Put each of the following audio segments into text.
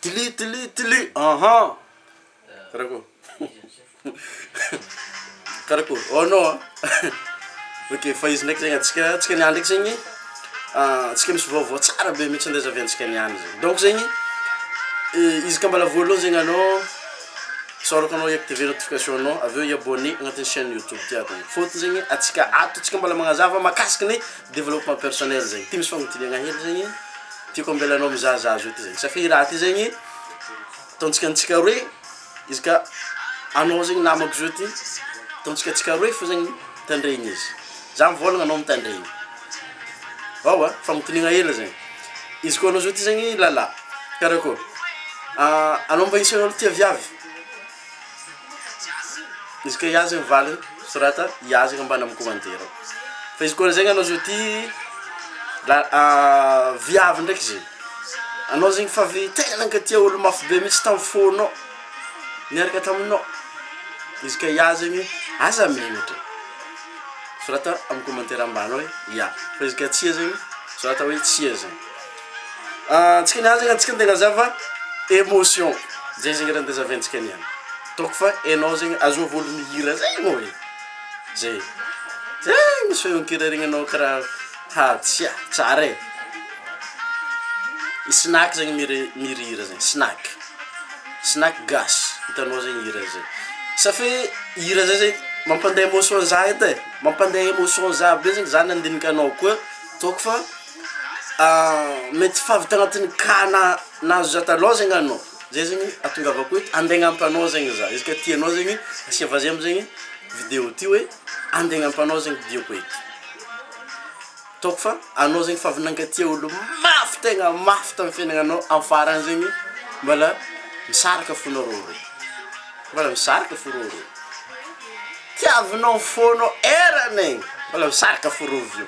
Tli tli tli ahan karakory karakory oh non an ok fa izy ndraiky zegny antsika antsika niany ndraiky zegny antsika misy vaovao tsara be mitsy ndeha zahaviantsika niany zegny donc zegny izy ka mbala voalohany zegny anao isaorako anao hiactiver notification nao avy eo hi-abonner agnatin'ny chaine youtube ty ato fôtony zegny antsika ato tsika mbala magnazava mahakasiky ny Développement personnel zegny ty misy fagnodidigna hely zegny tiako ambelanao mizaha za zao ty zegny satria i raha ty zegny ataontsika antsika roe izy ka anao zegny namako zao ty ataontsika antsika roe fo zegny mitandregny izy za mivôlagna anao mitandregny aoa fagnodignana hely zegny izy koa anao zao ty zegny lala karakôry anao mba isan'olo tia viavy. Izy ka iazy ny valiny sorata iazy ka mbana mikomantere ao fa izy koa zay anao zao ty la viavy ndraiky zegny anao zegny fa avy tegna ka tia olo mafy be mitsy tam fônô niaraka taminô izy ka iah zegny aza megnatry sorata amy komantere ambany ao hoe ia fa izy ka tsia zegny sorata hoe tsia zegny. antsika ny azaka antsika ny tegna zava emotion zay zegny raha ndeha zavaintsika niany ataoko fa enao zegny azoa voly mihira zay anao e zay zay misy feonkira regninao karaha ha tsia tsara e i snaky zegny mire- mihira hira zay snaky snaky gasy hitanao zay hira zay sa fe hira zay zay mampandeha emotion za edy e mampandeha emotion za be zegny za nandinika anao koa ataoko fa mety tsy fahavita anatin'ny cas na nahazo za talon zegny anao zay zegny atongavako eto ande agnampo anao zegny za izy ka tianao zegny asia vazia amizegny video ty hoe ande agnampo anao zegny diako eto ataoko fa anao zegny fa avy nankatia olo mafy tegna mafy tamy fiainagnanao amy farany zegny mbala misaraka fonareo roe mbala misaraka fo reo roe tiavinao fona eranegny mbala misaraka fo rovio.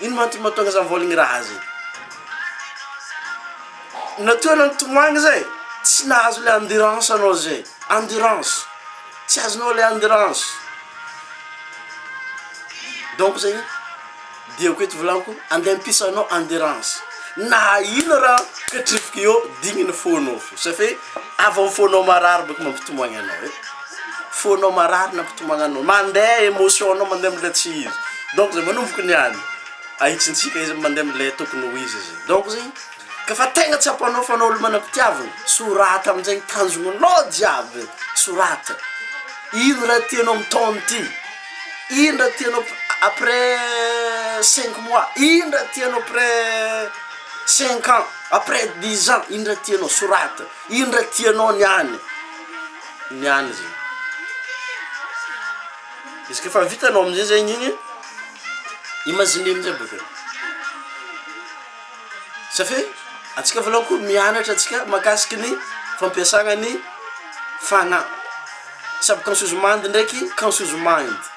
Ino ma antony mahatonga zany voly ngiraha zay? Natoa anao nitomagny zay tsy nahazo le endurance anao zay, endurance, tsy azonao le endurance. Donc zegny diako eto volagniko andeha ampisanao endurance na ino raha ketrifiko eo digny ny fonao fo safe. Avy amin'ny fonao marary boka mampitomagny anao e, fonao marary no hampitomagny anao, mandeha emotion anao mandeha amle tsy izy, donc zay manomboka niany ahitsintsika izy mandeha amle tokony ho izy zay, donc zegny ka fa tegna tsapanao fa anao olo manam-pitiavagna sorata aminjegny tanjognonao jiaby sorata, ino raha tianao amin'ny taogno ty, ino raha tianao après cinq mois, ino raha tianao après. Cinq ans, après dix ans, ino raha tianao soraty, ino raha tianao ny any, ny any zegny, izy koa efa vitanao amizay zegny igny, imagine amizay baka, satria antsika voalohany koa mianatra antsika makasiky ny fampiasana ny fagnahy, samy consuse mind ndreky consuse mind.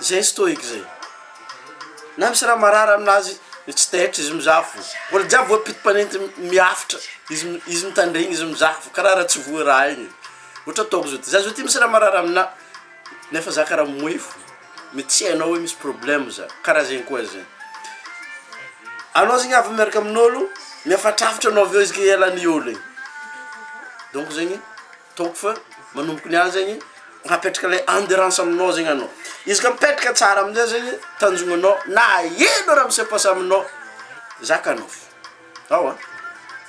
Zay stoic zay. Na misy raha marary aminazy izy tsy taitra izy mizaha fo. Olo jiaby voampito mpanenty miafitra izy izy mitandregny izy mizaha fo karaha raha tsy voa raha igny. Ohatra ataoko zao ty za zao ty misy raha marary amina nefa za karaha mimoehy fo mety tsy hainao hoe misy problème za karaha zegny koa zay. Anao zegny avy miaraka amin'olo miafatrafatra anao avy eo izy ke ialany olo igny donc zegny. Ataoko fa manomboka ny ahy zegny hapetraka le endurance aminao zegny anao izy ka mipetraka tsara amizay zegny tanjognanao na ino raha mise passe aminao zakanao fo ao a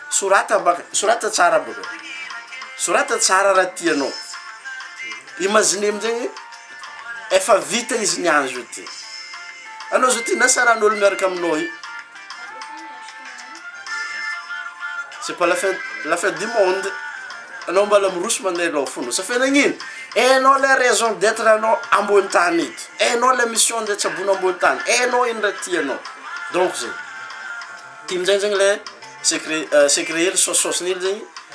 sorata baka sorata tsara baka sorata tsara raha tianao imagine amizegny efa vita izy ny azy io ty anao zao ty na saran'olo miaraka aminao io C'est pas la fin, la fin du monde. Anao mbala miroso mandeha aloha fono. Sa fe nagnino? Enao le raison d'être anao ambony tany eto. Enao le mission de tsabona ambony tany. Enao ino ndray tianao. Donc zay. Ty minjay zegny le secret euh, secret hely saosisaosin'ily zegny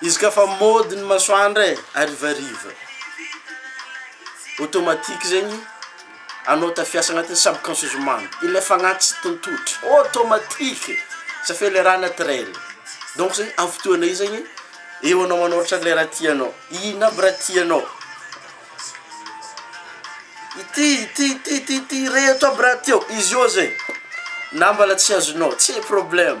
Izy ka fa mody ny masoandro e, harivariva, automatique zegny, anao tafiasa agnatin'ny subconscious mind, ilay fagnahy tsy tontotra, automatique, sa fe le raha naturel, donc zegny amin'ny fotoana io zegny, eo anao manoratra le raha tianao, inona aby raha tianao, ity ity ity ity ity, reto aby raha tiao, izy eo zegny, na mbala tsy azonao, tsy problème.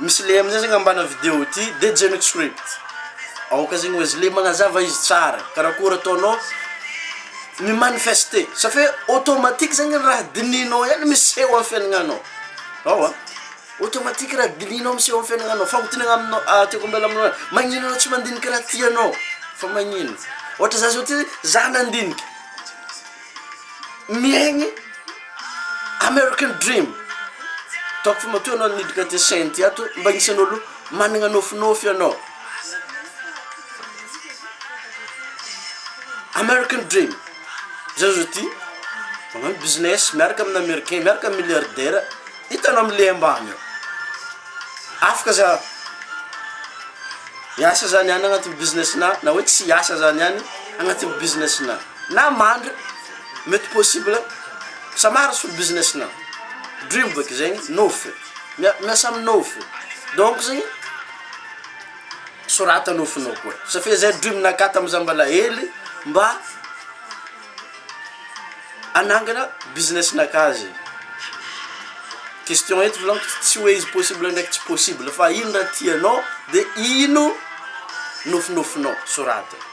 Misy le amizay zegny ambana video ity de Jemix Script aoka zegny oe zle magnazava izy tsara karakôry ataonao mi manifeste safia automatique zegny raha dinihinao ihany miseho am fiainagnanao ao a automatique raha dinihinao miseho am fiainagnanao fagnontenagna aminao a tiako ambela aminao magnino anao tsy mandiniky raha tianao fa magnino ôhatra za zao ty za nandinika. miaigny American dream, ataoko fa matoa ianao niditra aty Saint ato mba agnisan'olo managna nôfinôfy ianao, American dream, za zao ty magnano business miaraka amin'ny americain, miaraka amin'ny milliardaire, hitanao amle ambany ao, afaka za hiasa za niany agnatin'ny business-na na hoe tsy hiasa za niany agnatin'ny business-na. Na mandry, mety possible, samara solo business na dream bôka zegny, nofy, miasa amin'ny nofy, donc zegny sorata nofinao koa, satria zay dream naka tamin'ny za mbola hely mba hanangana business naka zegny, question eto vôlako tsy hoe izy possible ndraiky tsy possible fa ino raha tianao de ino nofinofinao sorata.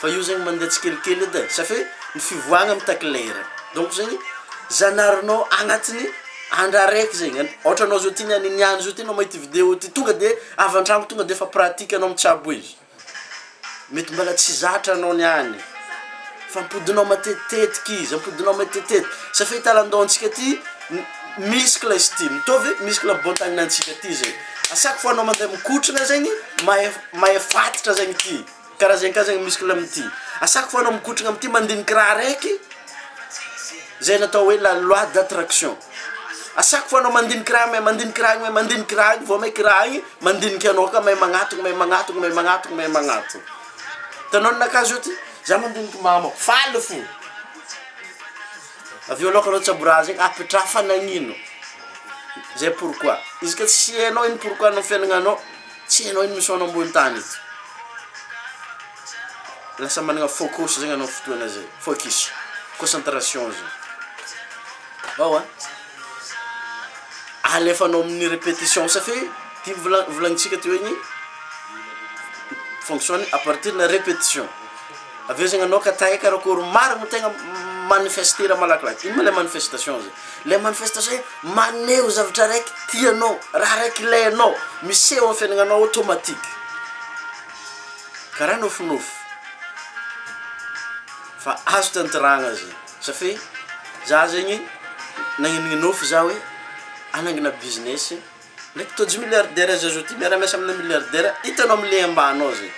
Fa io zegny mandeha tsikelikely edy e, satria ny fivoahagna mitaky lera, donc zegny zanarinao agnatin'ny andro araiky zegny, an- ohatra anao zao ty niany niany zao ty anao mahita video ty tonga de avy an-tragno tonga de efa pratique anao mitsabo izy, mety mbola tsy zatra anao niany fa ampodianao matetitetiky izy, ampodianao matetitetiky, satria ity lalan-daontsika ty m- muscle izy ty, mitovy muscle am-bohontagninantsika ty zegny, à chaque fois anao mandeha mikotrana zegny mahefa. Mahefaditra zagny ity karaha zegny ka zagny muscle amty asako foagna mikotragna amty mandigniky raha araiky zay natao hoe la loi d'attraction asako foagna mandigniky raha mahay mandigniky raha mahay mandigniky raha igny vao maiky raha igny mandiniky anao ka mahay magnatogno mahay magnatogno mahay magnatogno mahay magnatogno hitanao ny anakahy zao ty za mandiniky mamo faly fo aveo aloka anao tsabo raha zegny apetraha fa nagnino zay pourquoi izy ka tsy enao ino pourquoi anao fiaignananao Tsy hainao iny misaona ambony tany ity. Lasa managna focus zegny anao fotoana zay, focus, concentration zay. Ao an. Alefanao amin'ny repetition satria ty vola- volagnintsika teo igny fonctionne à partir na repetition. Avy eo zegny anao ka tahay karakôry marigny tegna manifester raha malakilaky. Ino ma le manifestation zay? Le manifestation. Manome ho zavatra raiky tianao, raha raiky ilainao, miseho amin'ny fiainagnanao automatique. Karaha nofinofy. Fa azo tantirahagna zegny. Safi, za zegny nagnino nofy za hoe hanangina business Le tojo milliardaire aza zao ty miara-miasa amina milliardaire hitanao am le ambany ao zay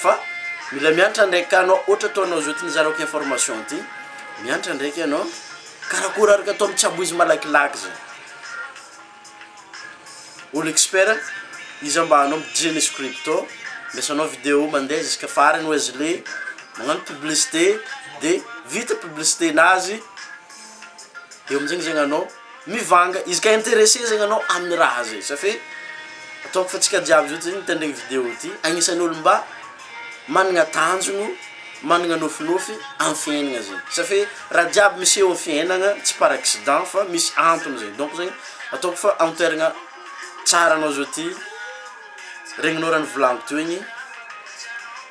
fa mila miantra ndraiky ka anao ohatra atao anao zao ty nizarako information ty miantra ndraiky anao karakôry araka atao mitsabo izy malakilaky zay olo expert iza mba anao mijery scripto andrasanao video mandeha ziska farany oe azy le magnano publicite de vita publicite nazy eo amizegny zegny anao Mivanga izy ka interesse zegny anao aminy raha zay sa fe ataoko fa tsika jiaby zao ty mitendre ny video ty agnisany olo mba managna tanjono managna nofinofy amy fiainagna zegny sa fe raha jiaby miseho amy fiainagna tsy par accident fa misy antony zegny donc zegny ataoko fa amy toeragna tsara anao zao ty regninao raha nivolaniko teo igny.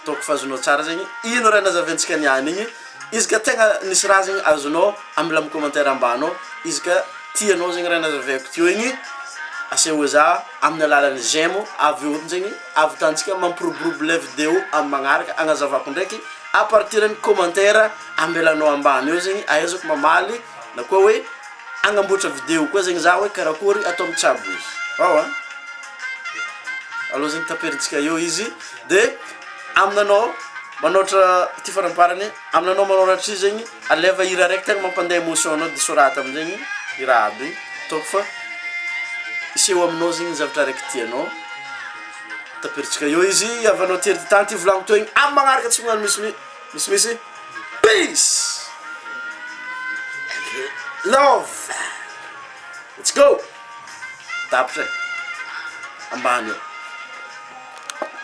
Hitako fa azonao tsara zegny ino raha nazaventsika niany igny, izy ka tegna nisy raha zegny azonao amela am commentaire ambany ao, izy ka tianao zegny raha nazavaiko teo igny aseo za amin'ny alalan'ny j'aime avy eo zegny avitantsika mampiroborobo le video am magnaraka agnazavako ndraiky à partir ny commentaire ambelanao ambany eo zegny ahaizako mamaly na koa hoe agnamboatra video koa zegny za hoe karakory atao mitsabo izy, ao an aleo zegny taperintsika eo izy. Dia aminanao manoatra ity faramparany aminanao manoratry izy zegny aleva hira araiky tegna mampande emotion anao de soraty amizegny hira aby ataoko fa hiseho aminao zegny zavatra araiky tianao tapiritsika eo izy havanao ty ery tany ty volagno teo igny amy magnaraka tsy magnano misi- misimisy peace and love let's go tapitra e ambany eo.